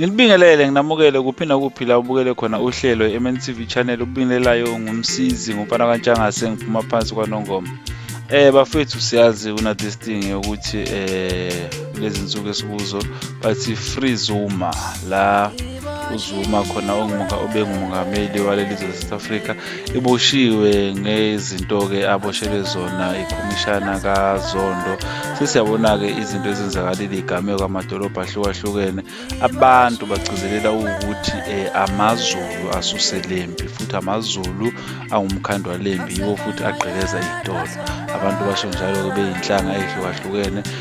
Ngilibingelele nginamukele kuphi nakuphi la ubukele khona uhlelo MNTV channel ubingelelayo ngumsizi ngumfana kaNtshangase ngiphuma phansi kwaNongoma. Eh bafethu siyazi kuna this thing ukuthi eh lezi nsuku esikuzo bathi free Zuma la uzuma khona obengumongameli waleli zwe south africa iboshiwe ngezinto-ke aboshelwe zona ikhomishana kazondo sesiyabona-ke izinto ezenzakalile igameko amadolobha ahlukahlukene abantu bagcizelela ukuthi um eh, amazulu asuse lempi futhi amazulu angumkhandwa lempi yiwo futhi agqekeza itolo abantu basho njalo-ke beyinhlanga eyihlukahlukene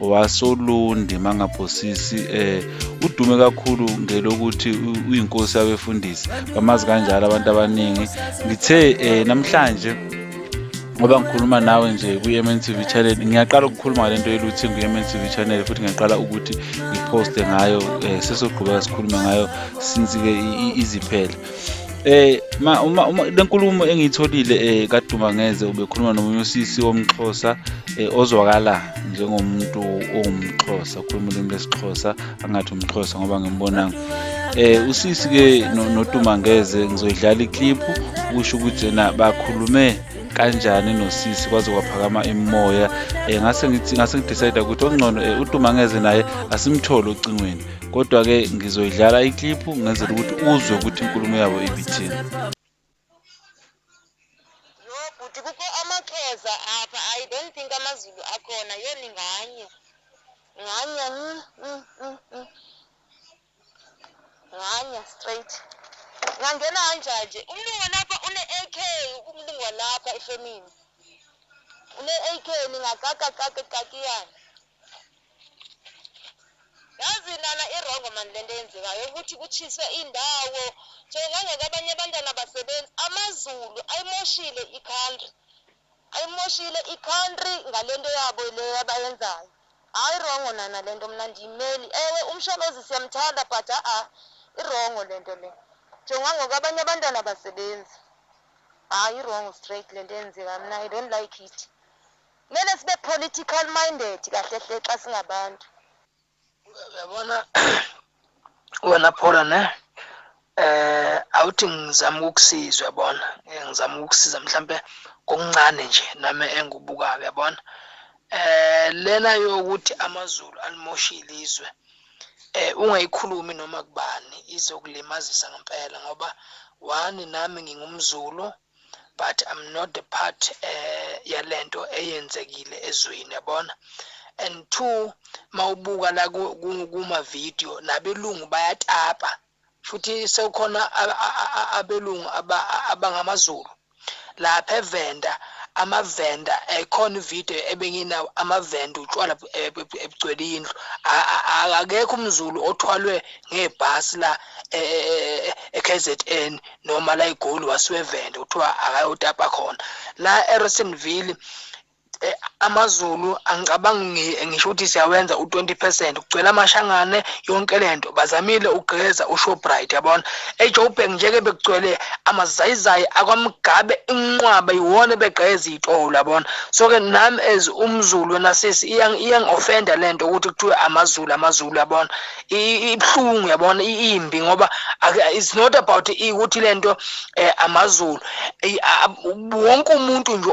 wasolundi mangabhosisi eh udume kakhulu ngelokuthi uyinkosi yabefundisi bamazi kanjalo abantu abaningi ngithe eh namhlanje ngoba ngikhuluma nawe nje kwi-mn tv channel ngiyaqala ukukhuluma ngale nto yeluthi kwi-mn tv channel futhi ngiyaqala ukuthi ngiphoste ngayo um sesogqubeka sikhulume ngayo since-ke iziphele Eh ma uma, uma lenkulumo engiyitholile eh kaduma ngeze ubekhuluma nomunye usisi womxhosa eh, ozwakala njengomuntu owumxhosa ukhuluma ulimi lesixhosa angathi umxhosa ngoba ngimbonanga eh usisi ke noduma ngeze ngizoyidlala iclip kusho ukuthi na bakhulume kanjani nosisi kwaze kwaphakama imoya eh ngase ngithi ngase ngidecide ukuthi ongcono eh, uduma ngeze naye asimthole ocingweni kodwa-ke ngizoyidlala ikliphu ngenzela ukuthi uzwe ukuthi inkulumo yabo ibithini bhuti kukho amaxhosa apha i don't think amazulu akhona yoni nganye nganye mm, mm, mm, mm. nganye straight ngangena kanjanje umlungu walapha une-ak umlungu walapha efemini une-ak ningakakakakakiyana Yazi nana irongo mani lento eyenzekayo yokuthi kutshiswe indawo so ngangeke abanye abantwana abasebenzi amazulu ayimoshile icountry ayimoshile icountry ngalento yabo le abayenzayo hayi rongo nana lento mna ndiyimeli ewe umsholozi siyamthanda but a-a irongo lento le njengoba ngoku abanye abantwana abasebenzi hayi irongo straight lento eyenzekayo mna i don't like it Kumele sibe political minded kahle hle xa singabantu. Uyabona wena Phola ne eh awuthi ngizama ukukusiza uyabona eh, ngizama ukukusiza mhlambe kokuncane nje nami engubukayo uyabona eh lena yokuthi amazulu alimoshile izwe eh ungayikhulumi noma kubani izokulimazisa ngempela ngoba wani nami ngingumzulu eh, but I'm not the part eh yalento eyenzekile ezweni yabona and two mawubuka la kuma video nabelungu bayatapa futhi sekukhona abelungu abangamaZulu lapha evenda amavenda ekhona ivideo ebenginawo amavenda utshwala ebugcwele indlu akekho umzulu othwalwe ngebhasi la e-KZN e-, e-, noma la egoli wasiwevenda kuthiwa akayotapa khona la eRosenville eh, amazulu angicabangi ngisho ukuthi siyawenza u-20 percent kugcwele amashangane yonke le nto bazamile ugqeza ushobright yabona ejoburg njeke bekugcwele amazayizayi akwamgabe inqwaba yiwona ebegqeza iy'tolo yabona so-ke nami as umzulu wena sisi iyangi-ofenda le nto ukuthi kuthiwe amazulu amazulu yabona ibuhlungu yabona imbi ngoba it's not about ukuthi lento eh, amazulu wonke umuntu nje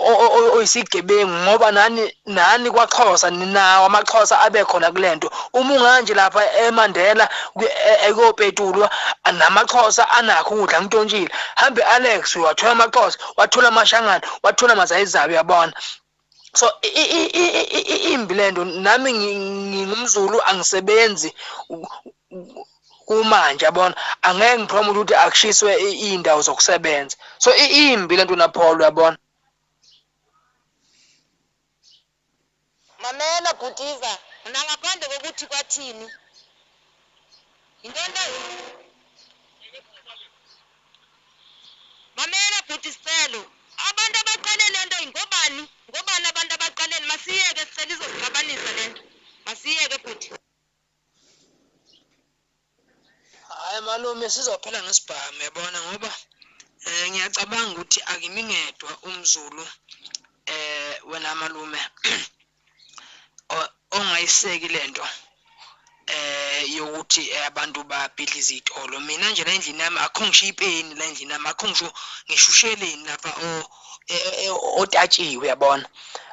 oyisigebengu ngoba nani nani kwaXhosa ninawo amaXhosa abe khona kulento uma unganje lapha eMandela ekopetulwa e, namaXhosa anakho ukudla ngitontshile hambe Alex wathola amaXhosa wathola amashangana wathola mazayizayo yabona so imbi lento nami ngingumzulu angisebenzi kumanje yabona angeke ngiphromote ukuthi akushiswe iy'ndawo zokusebenza so imbi lento napholo yabona mamela bhutiza mina ngaphandle kokuthi kwathini yintoni Mamela bhuti Scelo abantu abaqale lento ngobani ngobani abantu abaqaleni masiyeke Scelo izosixabanisa lento masiyeke bhuti. Hayi malume sizophela ngesibhamu yabona ngoba eh ngiyacabanga ukuthi akimi ngedwa umzulu eh wena malume ongayiseki lento eh yokuthi eh, abantu babhidliza izitolo mina nje la endlini yami akho ngisho ipeni la endlini yami akho ngisho ngishusheleni lapha o eh, eh, otatshiwe yabona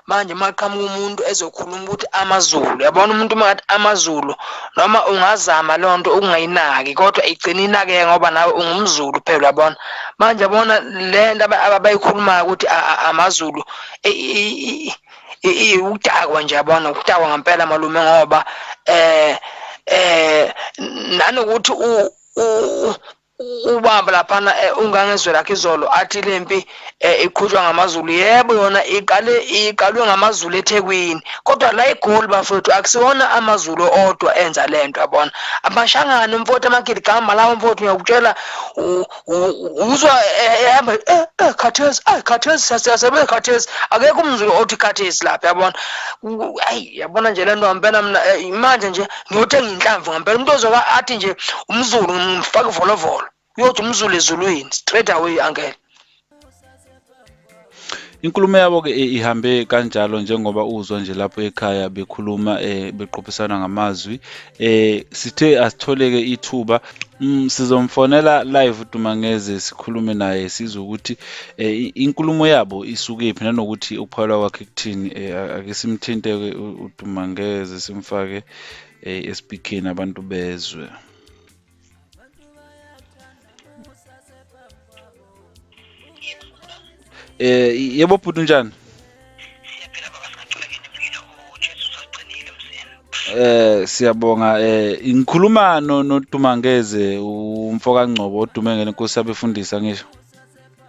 manje uma qhamuka umuntu ezokhuluma ukuthi amazulu yabona umuntu uma ngathi amazulu noma ungazama loo nto ukungayinaki kodwa igcina inakeke ngoba nawe ungumzulu phela yabona manje yabona le nto abayikhulumayo ukuthi amazulu Ukudakwa nje yabona ukudakwa ngempela malume ngoba eh eh nanokuthi u ubamba laphana eh, ungangezwe lakhe izolo athi le mpi eh, iqhutshwa ngamazulu yebo yona iqale iqalwe ngamazulu ethekwini kodwa la igoli bafowethu akusiwona amazulu odwa enza le nto yabona amashangane umfowethu amagidigama lawo mfowethu ngiyakutshela uzwa eh, ehamba eh, eh, khathesi ayi khathesi siyasebenza khathesi akekho umzulu othi khathesi lapha yabona ayi yabona nje le nto ngampela mna manje nje ngiyothenga inhlamvu ngampela umuntu ozoba athi nje umzulu ngimfake ivolovolo uyothi umzulu ezulwini straight away angele Inkulumo yabo ke eh, ihambe kanjalo njengoba uzwa nje lapho ekhaya bekhuluma eh beqophisana ngamazwi eh sithe asitholeke ithuba mm, sizomfonela live uDumangeze sikhulume naye sizwe ukuthi eh, inkulumo yabo isuke phi nanokuthi ukuphala kwakhe kuthini eh, ake simthinte ke uDumangeze simfake eh, eSpeakini abantu bezwe. Eh yebo bhuti unjani? Eh siyabonga eh ngikhuluma no noDumangeze umfoka Ngcobo odume ngene inkosi yabefundisa ngisho.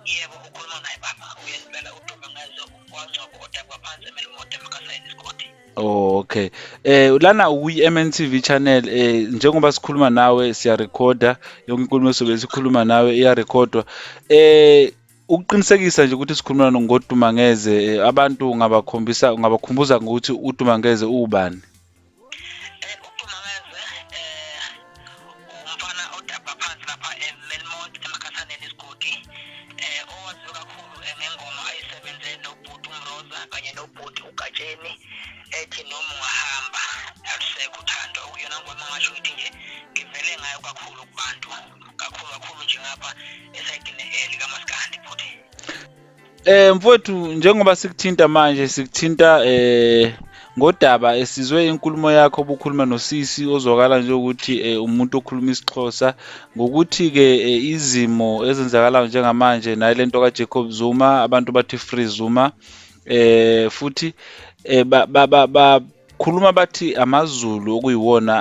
Yebo ukhuluma naye baba uyenzela uDumangeze umfoka Ngcobo odabwa phansi emelimoto emkasayini isigodi. Oh, okay. Eh lana ukwi-MNTV channel eh njengoba sikhuluma nawe siyarekhoda yonke inkulumo esobe sikhuluma nawe iyarekhodwa. Eh ukuqinisekisa nje ukuthi sikhuluma ngoDumangeze eh, abantu ungabakhombisa ungabakhumbuza ngokuthi uDumangeze ubani. umfana odabha phansi lapha emelmont emakhasaneni isigodi um owaziwe kakhulu eh, ngengoma ayisebenze nobhuti umroza kanye nobhuti ugatsheni ethi noma ungahamba alusekho uthando okuyona ngoma ngasho ukuthi nje ngivele ngayo kakhulu kubantu kakhulu kakhulu nje ngapha esayidini elikamasika Eh mfowethu njengoba sikuthinta manje sikuthinta eh ngodaba esizwe inkulumo yakho obukhuluma nosisi ozwakala nje ukuthi eh, umuntu okhuluma isiXhosa ngokuthi ke eh, izimo ezenzakalayo njengamanje naye lento ka Jacob Zuma abantu bathi free Zuma eh futhi eh ba, ba, ba, ba khuluma bathi amazulu okuyiwona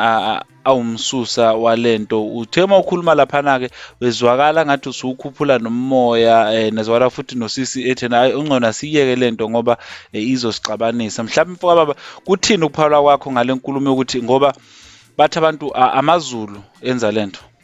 awumsusa walento uthe uma ukhuluma laphana-ke wezwakala ngathi usuwukhuphula nomoya um eh, nezwakala futhi nosisi ethena hayi ungcono asiyeke le nto ngoba eh, izosixabanisa mhlawumbe mfoka baba kuthini ukuphalwa kwakho ngale nkulumo yokuthi ngoba bathi abantu amazulu enza le nto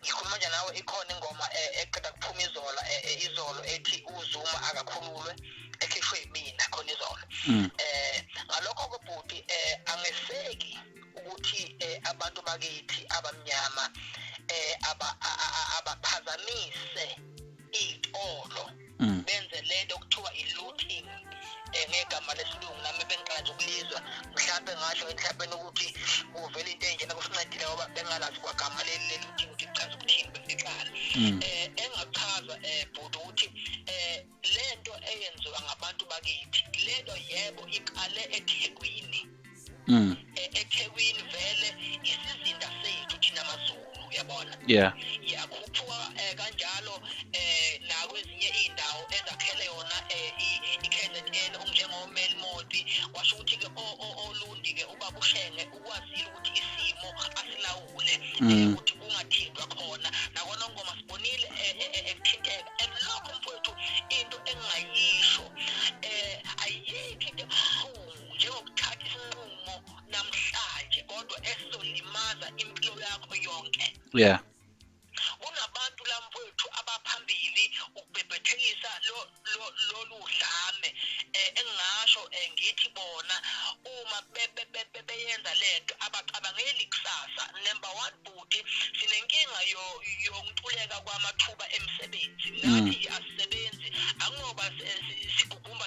ngikhuluma nje nawe ikhona ingoma eh, eqeda kuphuma izolo eh, eh, izolo ethi uzuma akakhululwe ekhishwe yimina khona izolo mm. eh ngalokho kobhuti eh angeseki ukuthi abantu bakithi abamnyama eh abaphazamise iy'tolo mm. benze lento okuthiwa i-looting eh, ngegama lesilungu nami bengiqala nje ukulizwa mhlawumbe ngasho emhlabeni ukuthi kuvela into enjena kusincedile ngoba bengalazi kwagama leli leli-looting ukuthi kuchaza ukuthini besiqala um mm. eh, engachaza um eh, bhuti ukuthi um le nto eyenziwa ngabantu bakithi le nto yebo iqale ethekwini mm. E, ethekwini vele isizinda sethu thina mazulu uyabona yeah yakhuphuka eh, kanjalo eh nakwezinye izindawo ezakhele yona eh, iKZN umnjengo Melmoti washo ukuthi ke olundi ke ubabushenge ukwazile ukuthi isimo asilawule mm. eh, ukuthi kungathindwa khona nakona ngoma sibonile ekuthinteka and lokho mfowethu into engayisho eh ayikho into ebuhlungu njengokuthatha isinqumo namhlanje kodwa esizolimaza impilo yakho yonke yeah kunabantu lamfowethu abaphambili ukubhebhethekisa lolu dlame eh, engingasho eh, ngithi bona uma beyenza lento abacabangeli kusasa number one bhuti sinenkinga yokuntuleka kwamathuba emsebenzi mm. nathi asisebenzi angoba sigugumba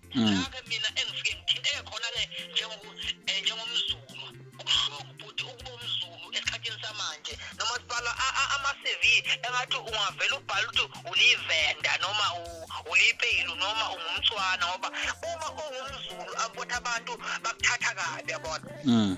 Mm. Ke mina engifike ngithinteke khona ke njengoku eh, njengomzulu. Ubuhlungu bhuti ukuba umzulu esikhathini samanje noma sibala ama CV engathi ungavela ubhala ukuthi ulivenda noma ulipeyilo noma ungumthwana ngoba uma ungumzulu akubona abantu bakuthatha kabi yabona. Mm.